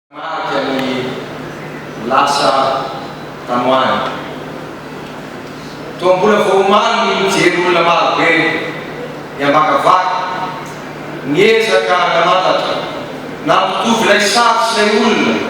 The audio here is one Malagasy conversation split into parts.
Marika ny lasa tany ho any. Toa mbola vao omaly ny nijery olona maro be miavakavaka, niezaka nanatatra, nampitovy ilay sary sy ilay olona.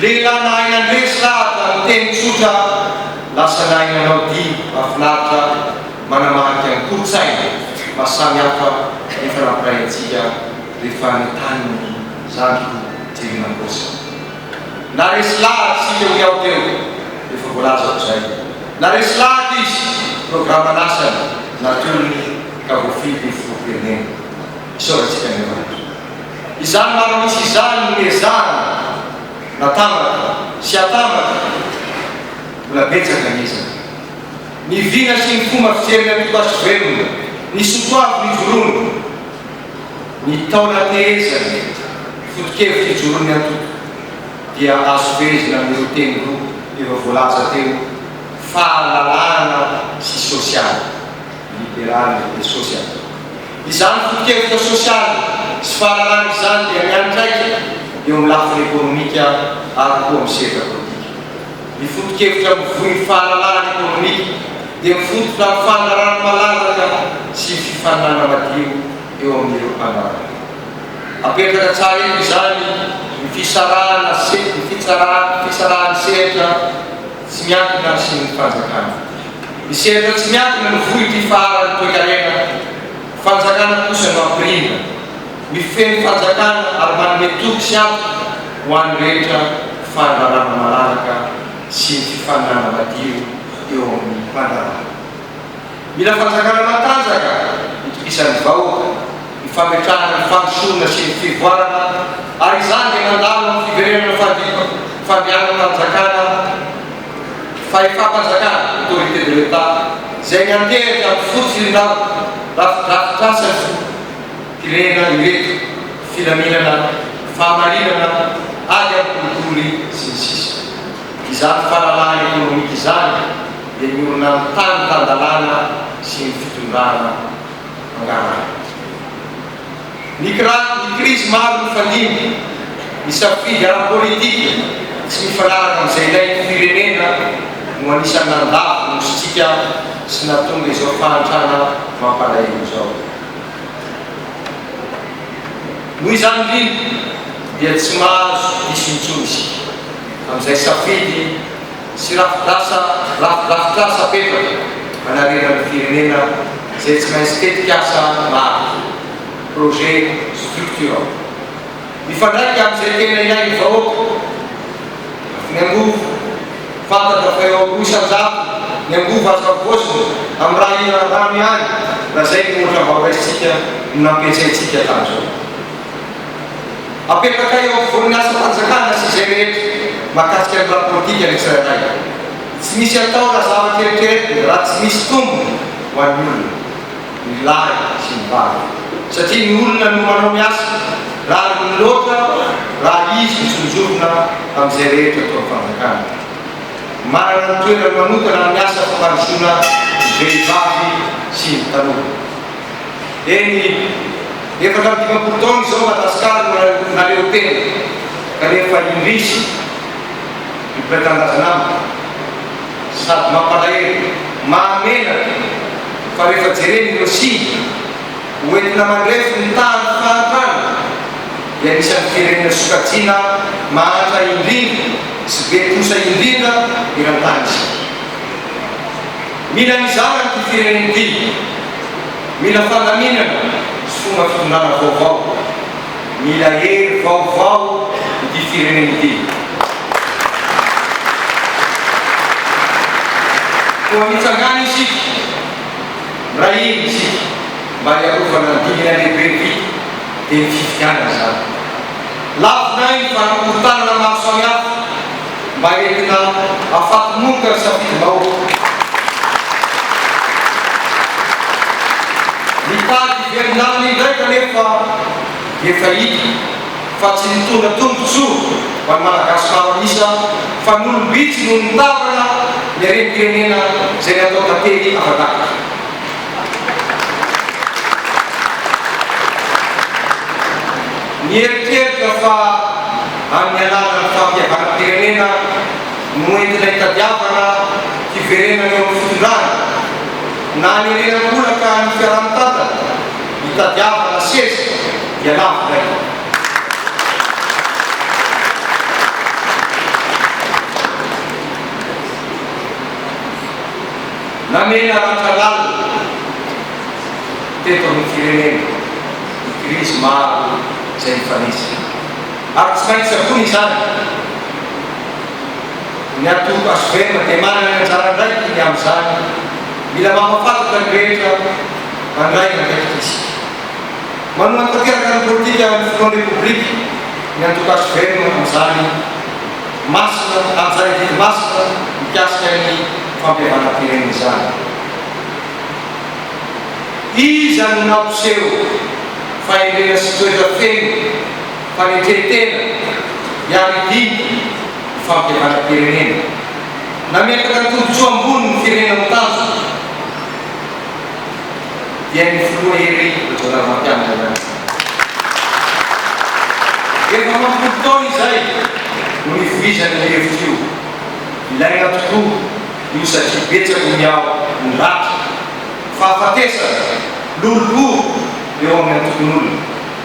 Lehilahy nahay nandresy lahy tamin'ny teny tsotra lasa nahay nanao dihy mahafinaritra manamarika ny kolontsaina mba samy hafa efa nampiray antsika rehefa any an-tanin'ny zandriko jerena am-paosy. Naresy lahatra isika hoy aho teo rehefa voalazako izay. Naresy lahatra izy, programan'asany natolony ka voafidy ho filoham-pirenena. Isaorantsika Andriamanitra. Izany maha-misy izany ny ezahana natambatra sy atambatra, mbola betsaka ny ezaka. Ny vina sy ny fomba fijery miantoka sy velona, ny soatoavy mijoroana, ny taona tehezany, ny foto-kevitra ijoroan'ny antoko dia azo fehezina amin'ireo teny roa efa voalaza teo, fahalalahana sy sosialy, liberaly et sosialy. Izany foto-kevitra sosialy sy fahalalana izany dia miantraika eo amin'ny lafiny ekonomika ary koa amin'ny sehatra politika. Ny foto-kevitra mivoy ny fahalalahana ekonomika dia mifototra amin'ny fandraràna malalaka sy ny fifaninanana madio eo amin'ireo mpanaraka. Apetraka tsara eto izany ny fisarahana ny fitsaràna ny sehatra. Tsy miankina amin'ny sin'ny fanjakana. Ny sehatra tsy miankina no vohy ity faharan'ny toekarena fanjakana kosa no ampirina. Mifehy ny fanjakana ary manome toky sy antoka ho an'ny rehetra fandrarana malalaka sy ny fifaninanana madio eo amin'ny mpandraharaha. Mila fanjakana matanjaka hitokisan'ny vahoka, hifametrahana ny fandrosoana sy ny fivoarana ary izany dia mandalo amin'ny fiverenana fandripa, fandehanan-panjakana, fahefam-panjakana, autorité de l'Etat, izay miantehery amin'ny fototr'irindao rafidrafitrasa ny firehina ireto, filaminana, fahamarinana, ady amin'ny kolikoly, sy ny sisa Izany fahalalahana ekonomika izany, dia niorina ny tany tan-dalàna sy ny fitondrana mangarahaka. Ny krizy maro nifandimby, ny safidy ara-politika tsy mifanaraka amin'izay ilain'ny firenena no anisan'ny nandavo nosintsika sy nahatonga izao fahantrana mampalahelo izao. Noho izany indrindra dia tsy mahazo diso intsony isika amin'izay safidy sy rafitr'asa rafidrafitr'asa betsaka manarena ny firenena izay tsy maintsy tetik'asa maro, projet structurant, mifandraika amin'izay tena ilain'ny vahoaka, ny angovo, fantatra fa eo amin'ny roa isan-jato ny angovo azo havaozina amin'ny raha hihinan'ny rano ihany raha izay ny ohatra mba horaisintsika no nampiantsaintsika hatramin'izao. Apetraka eo afovoan'ny asam-panjakana sy izay rehetra mahakasika ny raha-politika ny tsirairay. Tsy misy atao na zavatra eritreretina raha tsy misy tombony ho an'ny olona, ny lahy sy ny vavy, satria ny olona no manao ny asa, rariny loatra raha izy no sonjorina amin'izay rehetra atao ny fanjakana. Manana ny toerany manokana amin'ny asa fampandrosoana ny vehivavy sy ny tanora. Eny, efatra amby dimampolo taona izao Madagasikara no naleo tena, kanefa indrisy ry mpitanindrazana amiko, sady mampalahelo, mahamenatra, fa rehefa jerena ireo siny ho entina mandrefy ny tahan'ny fahantrana, dia anisan'ny firenena sokajiana mahantra indrindra sy be trosa indrindra eran-tany isika. Mila mizara ity firenena ity. Mila fandaminana sy fomba fitondrana vaovao. Mila hery vaovao ity firenena ity. Koa mitsangàna isika, miray hina isika mba hiarovana ny dingana lehibe ity, dia ny fifidianana izany. Lavonay ny fanankorontanana maro samihafa. mba entina afakomoka ny safidinao. Nitady hiverimbaniny indray kanefa efa hita fa tsy nitondra tombotsoa ho an'ny Malagasy maro an'isa fa nolom-bitsy no nitavana ny harem-pirenena izay natao tantely afa-daty. Nieritreritra fa amin'ny alalan'ny fahafiavanam-pirenena no entina itadiavana fiverenana eo amin'ny fitondrana, na aniriana an-kolaka ny fiaraha-mitantana, itadiavana seza dia lavo indray. Namela ratra lalina teto amin'ny firenena ny krizy maro izay nifanesy. Ary tsy maintsy avoina izany. Ny Antoko HVM dia manana ny anjara andraikiny amin'izany. Mila mampafantra ny rehetra mandray ny andraikitrisy. Manohana tanteraka ny politika ny Filohan'ny Repoblika, ny Antoko HVM amin'izany. Masina amin'izany adidy masina mikasika ny fampihavanam-pirenena izany. Iza no nampiseho fahendrena sy toetra feno? fa ny toe-tena hiaro indrindra ny fampihavanam-pirenena. Nametraka ny tombontsoa ambony ny firenena mitazona dia ny Filoha Hery Rajaonarimampianina ihany. Efa mampolo taona izay no nivoizan'io hevitra io. Ilaina tokoa io satria betsaka ny miaro ny ratra, fahafatesana, lolompo eo amin'ny antokon'olona.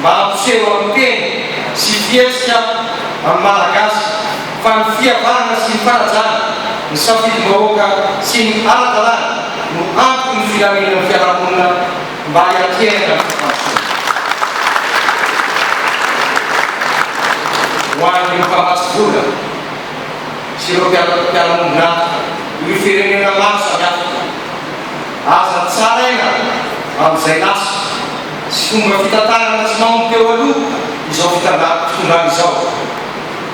mba hampiseho amin'ny teny sy fihetsika amin'ny Malagasy fa ny fihavanana sy ny fanajana ny safidim-bahoaka sy ny ara-dalàna no anton'ny filaminan'ny fiarahamonina mba hiatrehana ny fampandrosoana. Ho an'ireo mpamatsy vola sy ireo mpiara-miombon'antoka ireo firenena maro samihafa, aza tsaraina amin'izay lasa. Tsy fomba fitantanana tsy nao ny teo aloha izao fitandaham-pitondrana izao,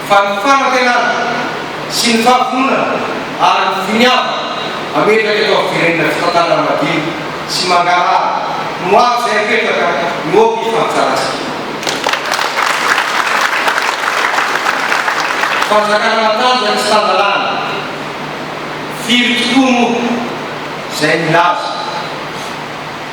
fa ny fanantenana sy ny fahavononana ary ny finiavana hametraka eto amin'ny firenena fitantanana madio sy mangarahara no azo izay apetraka no aoka hifampitarika. Fanjakana matanjaka sy tan-dalàna, firy tokoa moa izay milaza.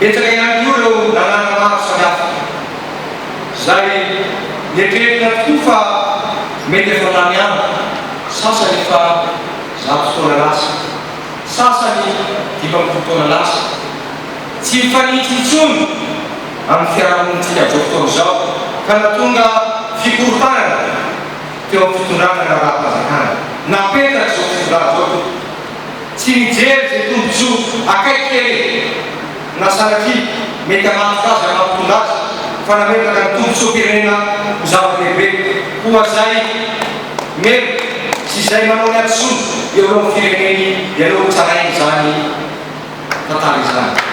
Betsaka ihany koa ireo lalàna maro samihafa izay nieritreritra tokoa fa mety efa lany andro, sasany efa zato taona lasa, sasany dimy ambin'ny folo taona lasa. Tsy mifanitsy intsony amin'ny fiarahamonintsika amin'izao fotoana izao ka nahatonga fikorontanana teo amin'ny fitondrana ny raharaham-panjakana napetraka izao fitondrana izao. Tsy mijery izay tombontsoa akaiky kere na sanatria mety hanafika azy na hampitondra azy fa nametraka ny tombontsoam-pirenena ho zava-dehibe koa izay merina sy izay manao ny hadisoany eo eo amin'ny fireneny dia aleo hotsaraina izany tantara izany.